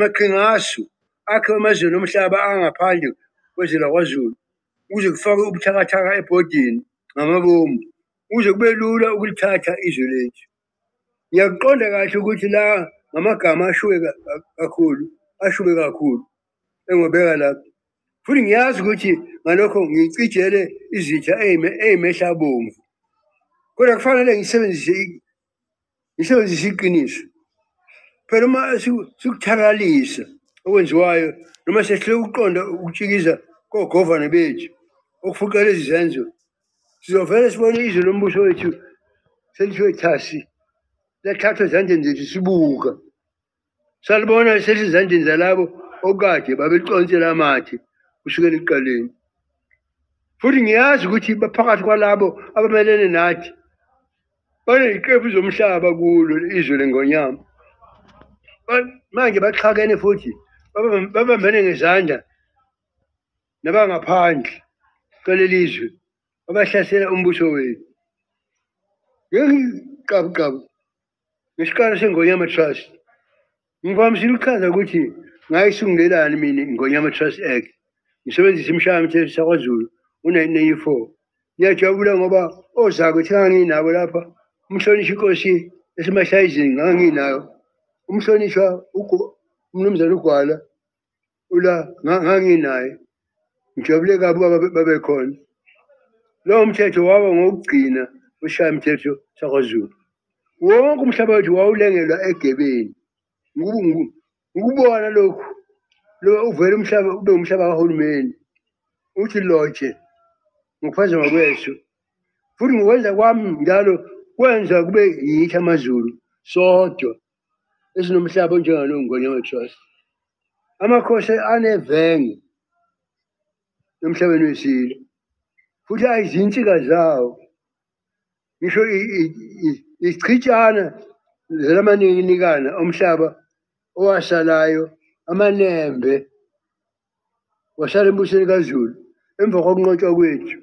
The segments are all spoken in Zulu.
maqhingashu akhe emazweni omhlaba angaphandle kwezwe lakwazulu ukuze kufake ubuthakathaka ebhodini ngamabomu ukuze kube lula ukulithatha izwe lethu ngiyakuqonda kahle ukuthi la ngamagama ashuke kakhulu ashuke kakhulu engobeka lapho futhi ngiyazi ukuthi ngalokho ngicijele izitha eyimehlabomvu kodwa kufanele ngisebenzise ngisebenzisa iqiniso phela uma sikuthalalisa okwenziwayo noma sehlule ukuqonda ukutshikiza kogovane bethu okufuqa lezi zenzo sizovele sibone izwe lombuso wethu selithiwe thasi lethathwa ezandleni zethu sibuka Salibona lihleli ezandleni zalabo okade babelicontsela amathe kusukela ekuqaleni. Futhi ngiyazi ukuthi baphakathi kwalabo abamelene nathi baneziqephu zomhlaba kulo izwe lengonyama. Ba- Manje baxhakene futhi babam- babambene ngezandla nabangaphandle kwaleli zwe abahlasela umbuso wethu. Ngengiqabuqabu ngesiqalo sengonyama trust ngivamisile ukuchaza ukuthi ngayisungelelani mina ingonyama trust act ngisebenzisa imishaya mthetho sakwazulu u-1994 ngiyajabula ngoba ozakwe thi nganginabo lapha umhlonishwa inkosi esemashayizini nganginayo umhlonishwa umnumzane ugwala ula nganginaye ngijabule kabi uba babekhona lowo mthetho waba ngokugcina ushaya mthetho sakwazulu wonke umhlaba wethu wawulengelwa egebeni ngikubona lokhu lo uvele umhlaba ube umhlaba kahulumeni uthi loje ngokuphaza ngokweso futhi ngokwenza kwami njalo kwenza kube yithi amazulu sodwa esinomhlaba onjengalo ngwenya matrust amakhosi anevenge emhlabeni wesilo futhi ayizinsika zawo ngisho ichitshana zelamaninginikana omhlaba owasalayo amanembe wasala embusweni kazulu emva kokunqotshwa kwethu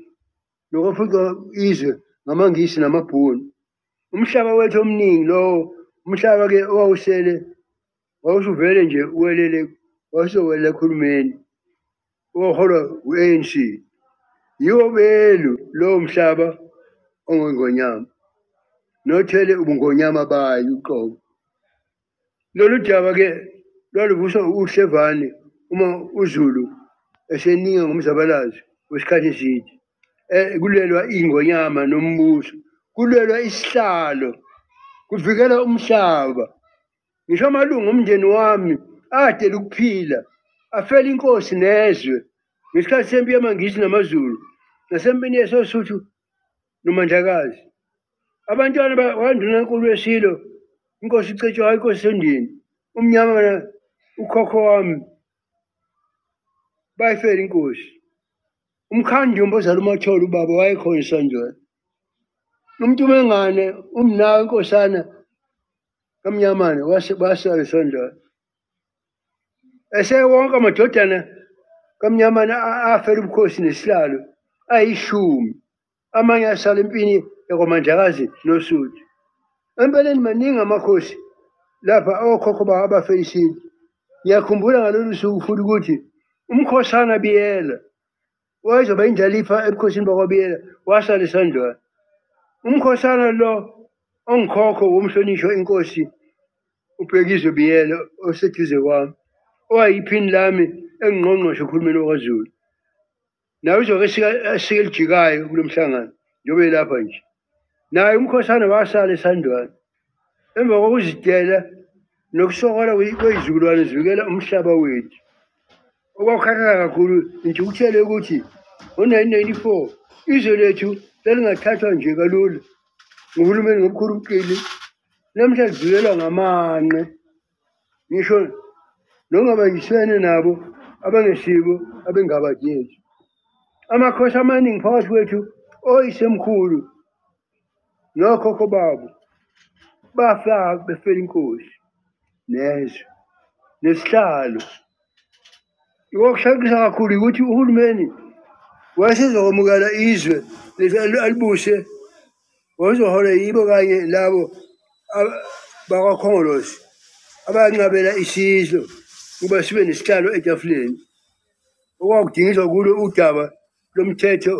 nokwafuqa izwe ngamangisi namabhunu umhlaba wethu omningi lowo umhlaba ke owawusele wawusuvele nje uwelele wawusowelele ekhulumeni owaholwa u-anc yiwo belu lowo mhlaba ongongonyama nothele ubungonyama bayo uqobo Lolu daba-ke lwaluvuswa uhlevane uma uZulu eseninga ngomzabalazo wesikhathi eside eh, kulelwa ingonyama nombuso kulelwa isihlalo kuvikela umhlaba ngisho amalungu omndeni wami adela ukuphila afela inkosi nezwe ngesikhathi sempi yamangisi namazulu nasempini yesosuthu noMandlakazi. Abantwana bakwaNdunankulu weSilo, iNkosi uCetshwayo, iNkosi Sendini, uMnyama na ukhokho wami bayifela inkosi. UMkhandumba ozala uMathole ubaba wayekhona eSandlwana. UMntumengane umnawe inkosana kaMnyamane wase basala eSandlwana. eshe wonke amadodana kamnyamana afela ubukhosi nesihlalo ayishumi amanye asala empini yakwamandlakazi nosuthu empeleni maningi amakhosi lapha okhokho bawo abafela isintu ngiyakhumbula ngalolu suku futhi ukuthi umkhosana biyela wayezoba indlalifa ebukhosini bakwabiyela wasala isandlwana umkhosana lo ongikhokho womhlonishwa inkosi ubhekizwe biyela oseduze kwami owayiphini lami engingqongqoshe uhulumeni wakazulu naye uzoke asike elijikayo kulo mhlangano njengoba elapha nje naye umkhoshana wasala esandwana emva kokuzidela nokusokola kweyizukulwane zivikela umhlaba wethu okwakukhathaza kakhulu intukuthele ukuthi ngo-1994 izwe lethu lalingathathwa nje kalula nguhulumeni ngomkhulu umqili namhla lidlulelwa ngamanqe ngisho nongabayisene nabo abangesibo abengabadingi amakhosi amaningi phakathi kwethu oyisemkhulu nokhokho babo bafa befela inkosi nezwe nesihlalo okushaqisayo kakhulu ukuthi uhulumeni wayesezokwamukela izwe leli alibuse Ngozohole yibo kanye labo bakwaKhongolose abanqabela isizwe ukuba sibe nesihlalo etafuleni okwakudingiswa kulo udaba lomthetho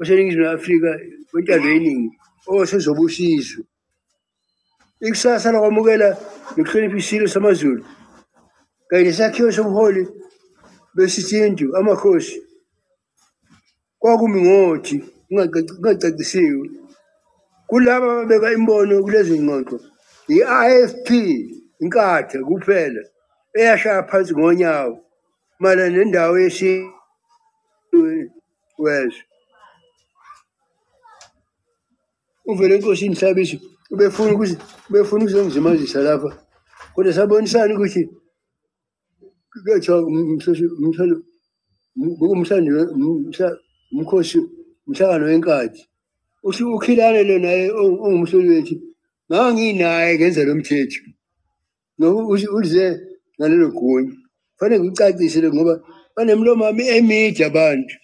oseningizimu afrika wentando yeningi owasezobusizwe ikusasa lakwamukela nokuhlonipha isilo samazulu kanye nesakhiwo sobuholi besisintu amakhosi kwakumi ngothi kungacacisiwe kulaba ababeka imbono kulezi ngxoxo yi-ifp inkathe kuphela eyashaya phansi ngonyawo mayelana nendawo yesintu wezwe uvele inkosi inhlabisho ubefuna ukuthi ubefuna ukuzongizimazisa lapha kodwa sabonisana ukuthi kuyothiwa umkhosi umhlangano wenkathi usho ukhilane lo naye ongumhloli wethu ngake nginaye ngenza lo mthetho uze ngalelo gunya fanele ngikucacisele ngoba banemlomo ami emide abantu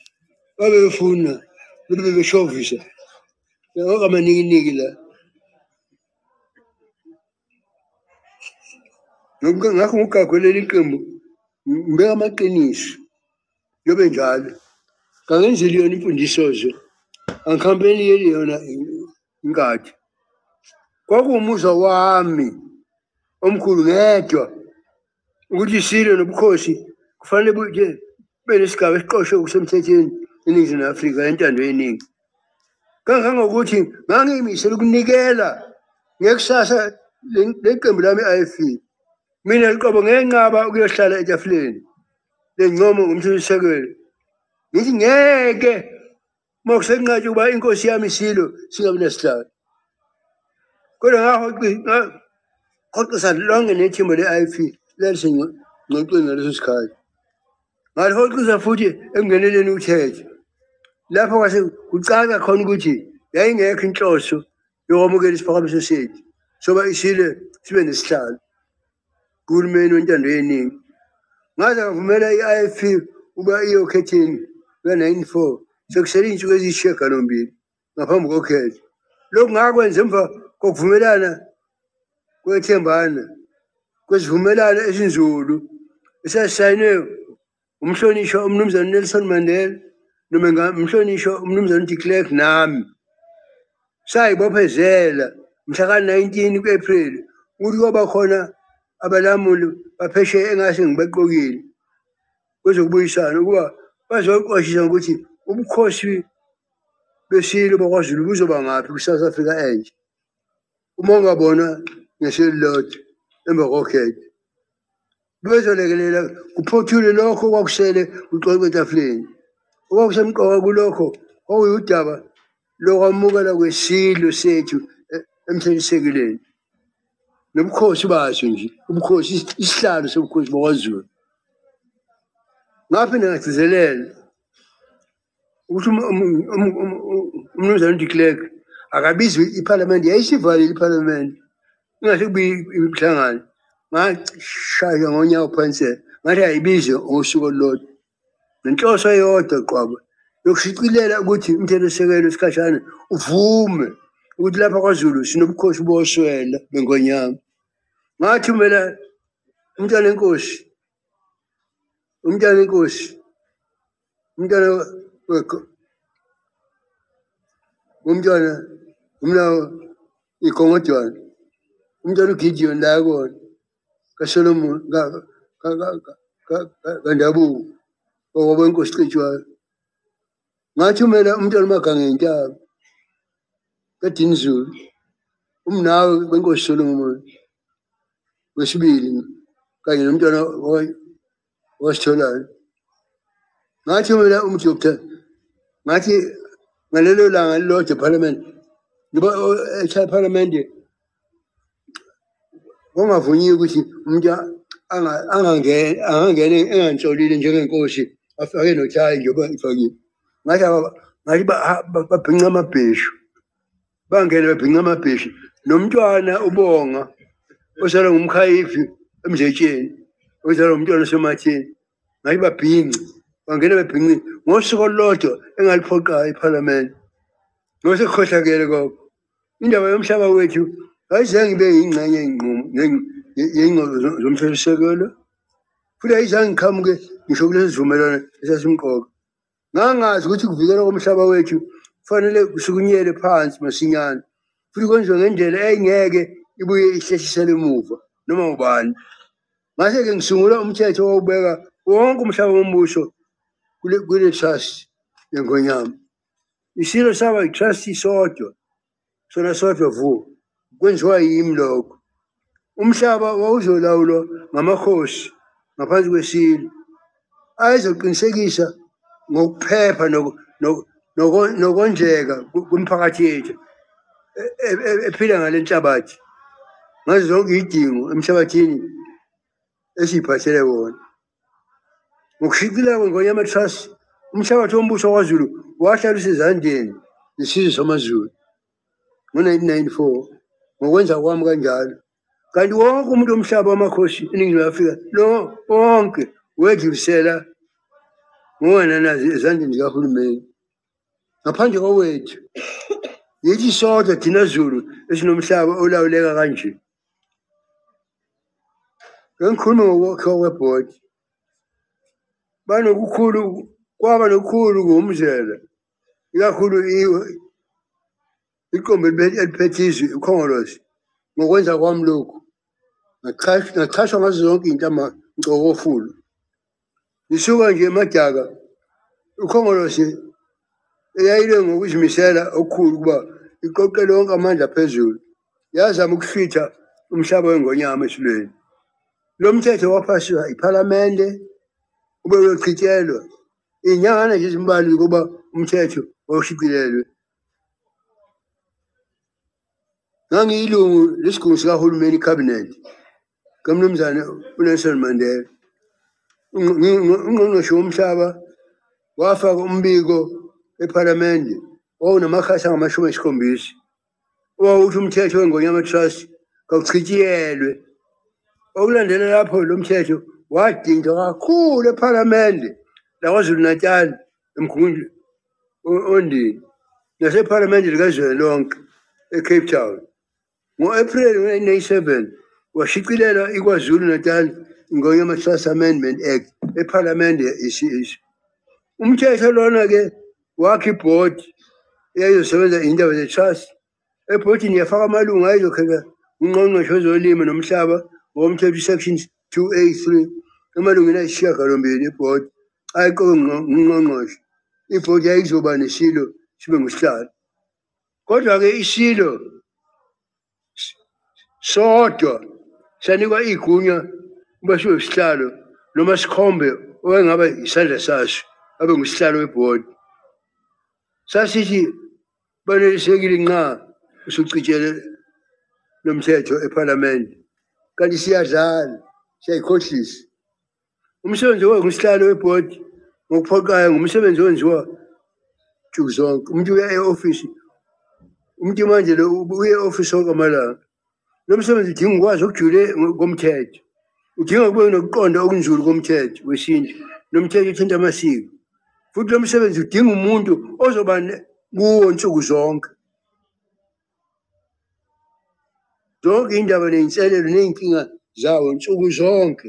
babefuna bebe beshovisa okamaninginiki la ngakho ngokugagwelela iqembu ngibeka amaqiniso yobe njalo kangenzeli yona imfundiso nje angikhambeli yeli yona inkathi kwakuwumuzwa wami omkhulu ngedwa ukuthi isilo nobukhosi kufanele buje benesigaba esiqoshwe okusemthethweni eningizimu afrika entando yeningi kangangokuthi ngangiyimisele ukunikela ngekusasa leqembu lami i-ifc mina liqobo ngenqaba ukuyohlala etafuleni lencomo ngomthethosisekelo ngithi ngeke uma kusenqatshwa ukuba inkosi yami isilo singabi nesihlalo kodwa ngahoxisa lonke nethimba le-ip lalisengxoxweni ngaleso sikhathi ngalihoxisa futhi ekungeneleni uthethe lapho kwase kucaca khona ukuthi yayingekho inhloso yokwamukela isiphakamiso sethu soba isile sibe nesihlalo kuhulumeni wentando yeningi ngaze ngavumela i-ifp ukuba iye okhetheni luka-94 sekusele iy'nsuku eziyishiyagalombili ngaphambi kokhetho lokhu ngakwenza emva kokuvumelana kwethembana kwesivumelwano esinzulu esasayinwe umhlonishwa umnumzane Nelson Mandela noma ngamhlonishwa umnumzane de Klerk nami sayibophezela mhla ka-19 ku-April ukuthi kwaba khona abalamuli baphesheya engase ngibaqokile kwezokubuyisana ukuba bazoqwashisa ngokuthi ubukhosi besilo bakwaZulu buzoba ngaphi kwi-South Africa entsha. uma ungabona ngisho elilodwa emva kokhetho bebezolekelela kuphothule lokho okwakushele uxoxo etafuleni okwakusemqoka kulokho okuyudaba lokwamukela kwesilwe sethu e-, emthethisisekileni nobukhosi baso nje ubukhosi isihlalo sobukhosi bakwazulu ngaphinde ngagcizelela ukuthi um, um, um, umnumzane udeclerk akabizwe iphalamende yayisivalile iphalamende ingathi kubi imihlangano ngashaywa ngonyawo phansi ngathi ayibizwe ngosuku olulodwa nenhloso eyodwa qobo yokushicilela ukuthi umthethosisekelo isikhashana uvume ukuthi lapha kwazulu sinobukhosi boswela bengonyama ngathi umela umntwana enkosi umntwana enkosi umntwana wekho umntwana umnawo igongodwana umntwana ugidiyoni la kona kasolomoni kandabuko okwabo inkosi cijwayo ngathi umele umntwana umagange ngentaba kadini zulu umnawe benkosi solomoni wesibili kanye nomntwana wasitholayo ngathi mina umdoktar ngathi ngalelo langa lilodwa ephalamende ngiba eshaya ephalamende kungavunyiwe ukuthi umuntu angangene engangihlolile njengenkosi afake nothayi njengoba ngifakile ngathi ngathi babhinca amabheshu bangene babhinca amabhishi nomntwana ubonga osalwa ngumkhayifi emzetsheni ozalwa ngumntwana osematheni ngathi babhince bangene babhince ngosuku olulodwa engaliphoqayo iphalamende ngosekukhohlakele koko indaba yomhlaba wethu ayizange ibe yingxenye yeyingxoxo zomthethosisekelo futhi ayizange iqhamuke ngisho kulesi sivumelwano esasimqoka ngangazi ukuthi kuvikela komhlaba wethu kufanele kusukunyele phansi masinyane futhi kwenziwe ngendlela eyingeke ibuye ihlehlisele emuva noma ubani ngase-ke ngisungula umthetho wawubeka wonke umhlaba wombuso kule trust yengonyama isilo saba i-trust sodwa sona sodwa vu kwenziwa yimi lokho umhlaba wawuzolawulwa ngamakhosi ngaphansi kwesilo ayezoqinisekisa ngokuphepha nokondleka kumphakathi yethu e, e, e, ephila ngale nhlabathi ngazo zonke iy'dingo emhlabathini esiyiphathele wona ngokushicileka kwengonyama trust umhlabathi wombuso kwazulu wahlala usezandleni zesizwe samazulu ngo-1994 ngokwenza kwami kanjalo kanti wonke umuntu womhlaba wamakhosi eningizimu afrika lo wonke wedlulisela ngowananazi ezandleni zikahulumeni ngaphandle kowethu yithi sodwa thina zulu esinomhlaba olawuleka kanje ngengikhuluma ngokwakhiwa kwebhodi banokukhulu kwaba nokukhulu ngomzela ikakhulu iqembu elibe- eliphethe izwe ikhongolose ngokwenza kwami lokhu ngachash- ngachashwa ngazo zonke iy'ntama ngcokofulu ngisuka nje emadaka ikhongolose eyayile ngokuzimisela okukhulu ukuba iqoqele wonke amandla phezulu yazama ukuhlwitha umhlaba wengonyama esilweni lo mthetho waphasiswa iphalamende ube uyochithelwa iy'nyangana nje ezimbalwa ukuba umthetho wawushicilelwe ngangiyilungu lesigungu sikahulumeni cabinet kamnumzane unelson mandela ungqongqoshe womhlaba wafaka umbiko ephalamende wawunamakhasi angamashumi esikhombisa owawuthi umthetho wengonyama trust kawuchitshiyelwe okulandela lapho lo mthetho wadinjwa kakhulu ephalamende lakwazulu natali emkhumuli ondini nasephalamende likazwelonke ecape town ngo-april 1997 washicilela ikwazulu natal ngonya ama-trust amendment act ephalamende i-ch umthetho lona-ke wakha ibhodi eyayizosebenza indaba ze-trust ebhodini yafaka amalungu ayezokheka ungqongqoshe wezolimo nomhlaba ngokomthetho isection 283 emalungwini ayisishiyagalombili ebhodi ayiqoke ngungqongqoshe ibhodi yayizoba nesilo sibe ngusihlalo kodwa-ke isilo sodwa sanikwa igunya uba sibe usihlalo noma sikhombe owayengaba isandla saso abe ngusihlalo webhodi sasithi banelisekile nxa usucijele nomthetho ephalamende kanti siyadlala siyayikhohlisa umsebenzi owe ngusihlalo webhodi ngokuphoqayo ngumsebenzi owenziwa nsuku zonke umuntu uya e-ofisi umuntu manje lo uye e-ofisi onke amalanga lo msebenzi udinga ukwazi okujule komthetho udinga kube nokuqonda okunzulu komthetho wesintu nomthetho uthinta amasiko futhi lo msebenzi udinga umuntu ozoba kuwo nsuku zonke zonke indaba neyinselelo neyinkinga zawo nsuku zonke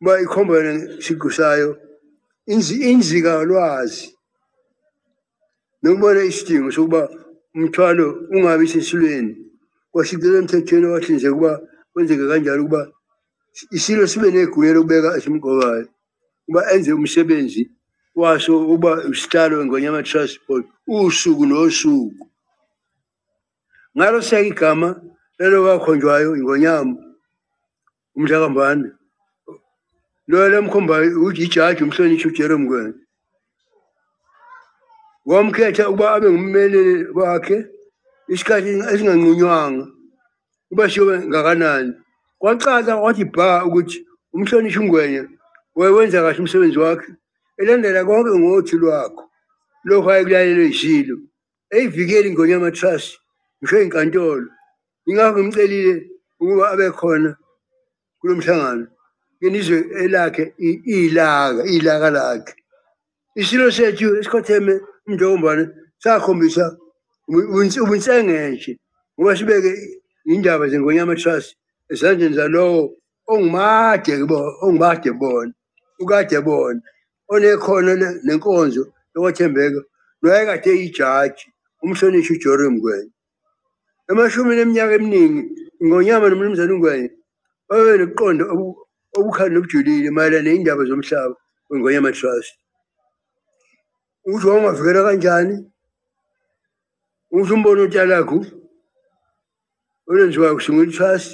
uba ikhomba yona isiqu sayo inzi- inzikalwazi nokubona isidingo sokuba umthwalo ungabi sesilweni kwashicilelwa emthethweni owahlinzeka ukuba kwenzeke kanjalo ukuba isilo sibe negunya lokubeka esimqokayo ukuba enze umsebenzi waso ukuba usihlalo engonyama transport usuku nosuku ngalo seka igama lelo kakhonjwayo ingonyama umhlakambane loyo lamkhomba uyijaji umhlonishwa ujere mngwena wamkhetha ukuba abe ngummeli wakhe isikhathi esinganqunywanga uba siyobe ngakanani kwacaca kwathi bha ukuthi umhlonishwa ungwenya wayewenza kahle umsebenzi wakhe elandela konke ngothi lwakho lokho ayekulalelwe yisilo eyivikeli ingonyama trust ngisho inkantolo ingakho ngimcelile ukuba abe khona kulo mhlangano ngenizwe elakhe ilaka ilaka lakhe isilo sethu esikhotheme umntokombane sakhombisa ubunsengenje ngoba sibeke indaba zengonyama trust ezandleni zalowo ongumade ongumade bona ukade bona onekhono nenkonzo yokwethembeka noyekade eyijaji umhlonishwa ujori mngwenya emashumini eminyaka eminingi ingonyama nomnumzane ungwenya babe nokuqonda obukhali nobujulile mayelana neyindaba zomhlaba wengonyama trust ukuthi wawungavikela kanjani ukuthi umbono utalakhu olenziwayo kusungula itrust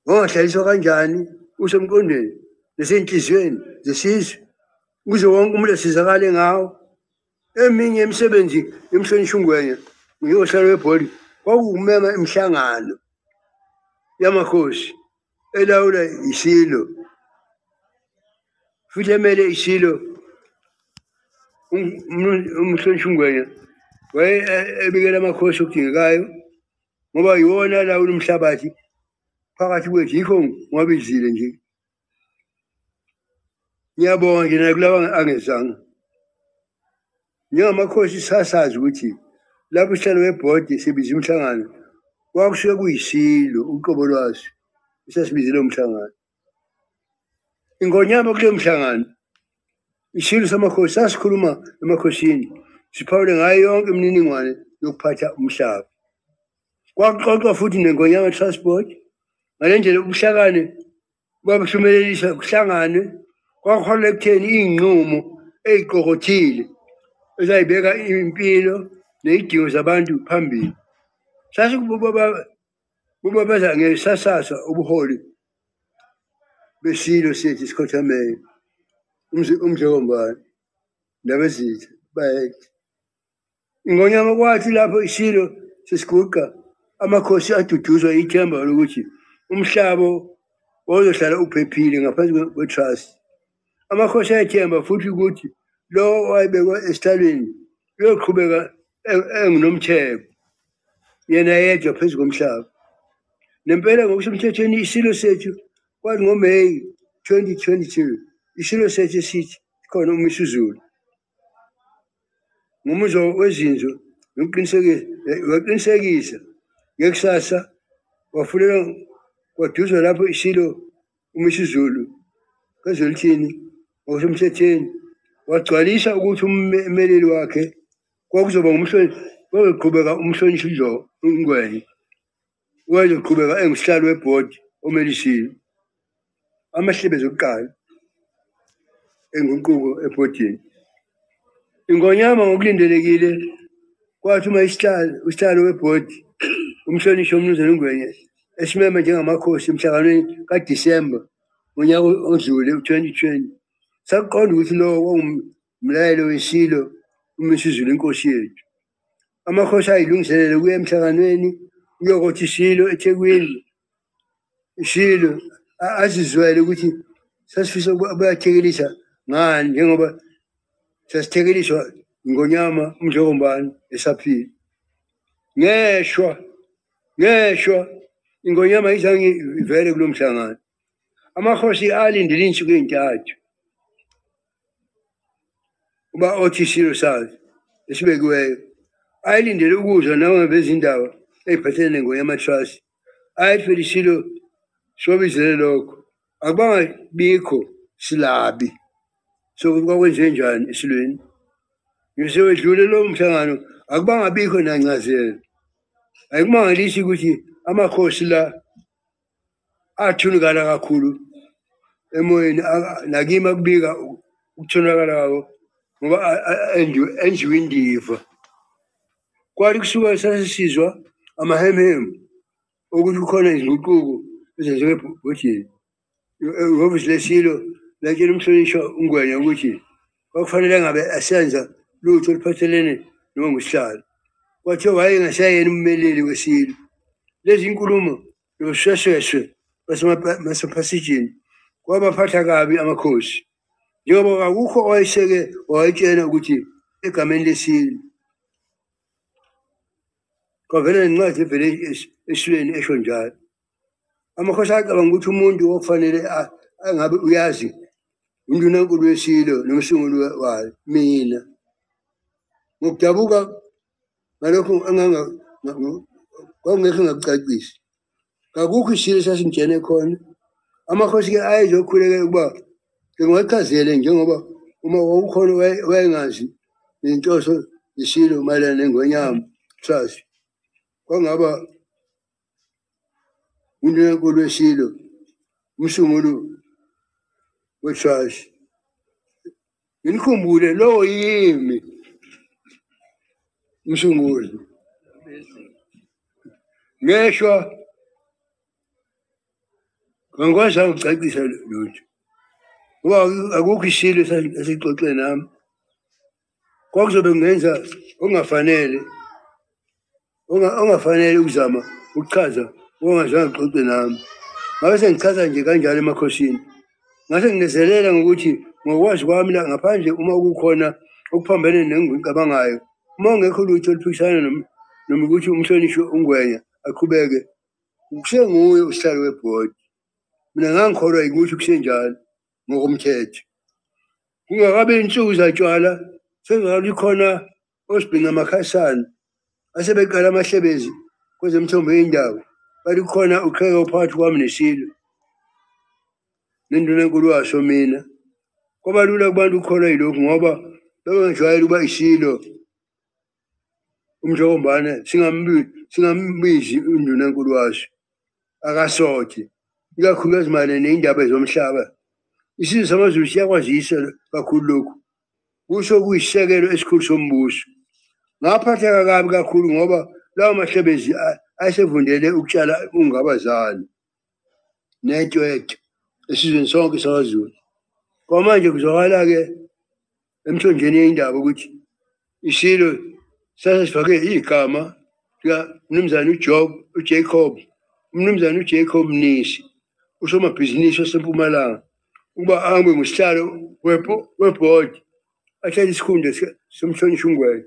Wangahlaliswa kanjani usemqondweni nasenhliziyweni zesizwe ukuze wonke umuntu asizakale ngawo. Eminye imisebenzi yomhlonishwa uNgwenya ngiyohlala webhodi kwakuwumema imihlangano yamakhosi elawula isilo futhi emele isilo umhlonishwa uNgwenya waye ebikela amakhosi okudingekayo ngoba yiwona alawula umhlabathi phakathi kwethu yikho ngwabizile nje ngiyabonga nje nakulawa angezanga njengamakhosi sasazi ukuthi lapho uhlelo webhodi sibiza umhlangano kwakusuke kuyisilo uqobo lwaso esasibizile umhlangano ingonyama kuleyo mhlangano isilo samakhosi sasikhuluma emakhosini siphawule ngayo yonke imininingwane yokuphatha umhlaba kwakuxoxwa futhi nengonyama transport ngale ndlela ubuhlakane babuhlumelelisa kuhlanganwe kwakuholela ekutheni iy'nqumo ey'qokothile ezayibeka impilo ney'dingo zabantu phambili sasikububa Uma bedla ngesasasa ubuholi besilo sethu sikhothamayo umdlokombane nabezitha bayede ingonyama kwathi lapho isilo sesiguqa amakhosi aduduzwa ithemba lokuthi umhlabo wawuzohlala uphephile ngaphansi kwe-trust amakhosi ayethemba futhi ukuthi lowo owayebekwa esihlalweni uyoqhubeka e-, enginomtheko yena yedwa phezu komhlaba nempela ngokusemthethweni isilo sethu kwathi ngomeyi 2022 isilo sethu esithi khona umisuzulu ngomuzwa wezinzo nokuqinisekisa ngekusasa wafunela kwaduzwa lapho isilo UMisuzulu kwezoLithini ngokusemthethweni wagcwalisa ukuthi ummeleli wakhe kwakuzoba ngumhloniphi kwakuzoqhubeka umhlonishwa uJo uNgwenya wayezoqhubeka engusihlalo webhodi omelisiwe amahlebezi okuqala enguquko ebhodini Ingonyama ngokulindelekile kwathuma isihlalo usihlalo webhodi umhlonishwa umnumzane uNgwenya esimeme njengamakhosi emhlanganweni kaDisemba ngonyaka odlule u-2020 sakuqonda ukuthi lowo kwangumlayelo wesilo uMisizulu inkosi yethu amakhosi ayilungiselele ukuya emhlanganweni uyokothi isilo eThekwini shilo a- azizwele ukuthi sasifisa ukuba abayathekelisa ngani njengoba sasithekeliswa ngonyama umdlokombani esaphila ngeshwa ngeshwa ingonyama izange ivele kulo mhlangano amakhosi alindele insuku ezintathu uba othi isilo sazi esibekiweyo ayelindele ukuzwa nawo bezindaba eyiphathele nengoya amatrust ayethwele isilo sobizele lokho akubanga bikho silabi so kwakwenze njani esilweni ngise wedlule lowo mhlangano akubanga bikho nancazelo ayikumangalishi ukuthi amakhosi la athunikana kakhulu emoyeni nakimi akubika ukuthunakala kwako ngoba enjiwe indiva kwathi kusuka sasisizwa amahemhemu ukuthi kukhona izinguquko ezenziwe ebhodini ihhovisi lesilo latshela umhlonishwa ungwenya ukuthi kwakufanele ngabe asenza lutho oluphathelene noma ngusihlalo kwathiwa wayengasayena ummeleli weSilo lezi nkulumo nobushweshweshwe basemapasijini kwabaphatha kabi amakhosi njengoba kakukho owayeseke wawayitshena ukuthi egameni leSilo kwavela nencwadi evele eSilweni esho njalo amakhosi acabanga ukuthi umuntu okufanele angabe uyazi undunankulu wesilo nomsunguli wayo mina ngokudabuka ngalokho kwakungekho ngakucacisi kakukho isilo sasingitshene khona amakhosi-ke ayezokhulekela ukuba ngiwachazele njengoba uma wawukhona wayengazi nenhloso isilo mayelana nengonyama trust kwangaba into enkulu eshilo umsungulu wechurch nginikhumbule lowo yimi umsunguli ngeshwa ngangikwazi angicacisa lutho ngoba akukho ishilo esixoxe nami kwakuzobe kungenza ongafanele ongafanele ukuzama ukuchaza okungazange kuxoxe nami ngabe sengichaza nje kanjalo emakhosini ngase nginezelela ngokuthi ngokwazi kwami la ngaphandle uma kukhona okuphambene nengicabangayo uma ungekho lutho oluphikisana noma ukuthi umhlonishwe ungwenya aqhubeke kusenguye usihlalo webhodi mina ngangikholwa yikuthi kusenjalo ngokomthetho kungakabe insuku zatshwala sezalwa ikhona osibhinga amakhasana asebeqala amahlebezi kwezemthombo yendawo bathi kukhona uqheka uphakathi kwami nesilo nenduna enkulu waso mina kwabalula kubantu ukukholwa yilokhu ngoba bebengijwayele ukuba isilo umhlokombane singambizi unduna enkulu waso akasothi ikakhulukazi mayelana neyindaba ezomhlaba isizwe samazulu siyakwazisa kakhulu lokhu kusho kuyisekelo esikhulu sombuso ngaphatheka kabi kakhulu ngoba lawo mahlebezi ayesevundele ukutshala ungabazali netwetwe esizweni sonke samazulu kwamanje kuzwakala-ke emthonjeni yeyindaba ukuthi isilo sase sifake igama likamnumzane ujob ujacob umnumzane ujacob mnisi usomabhizinisi wasempumalanga ukuba angwe ngusihlalo webhodi athathe isikhundla somhlonishwa ungwenya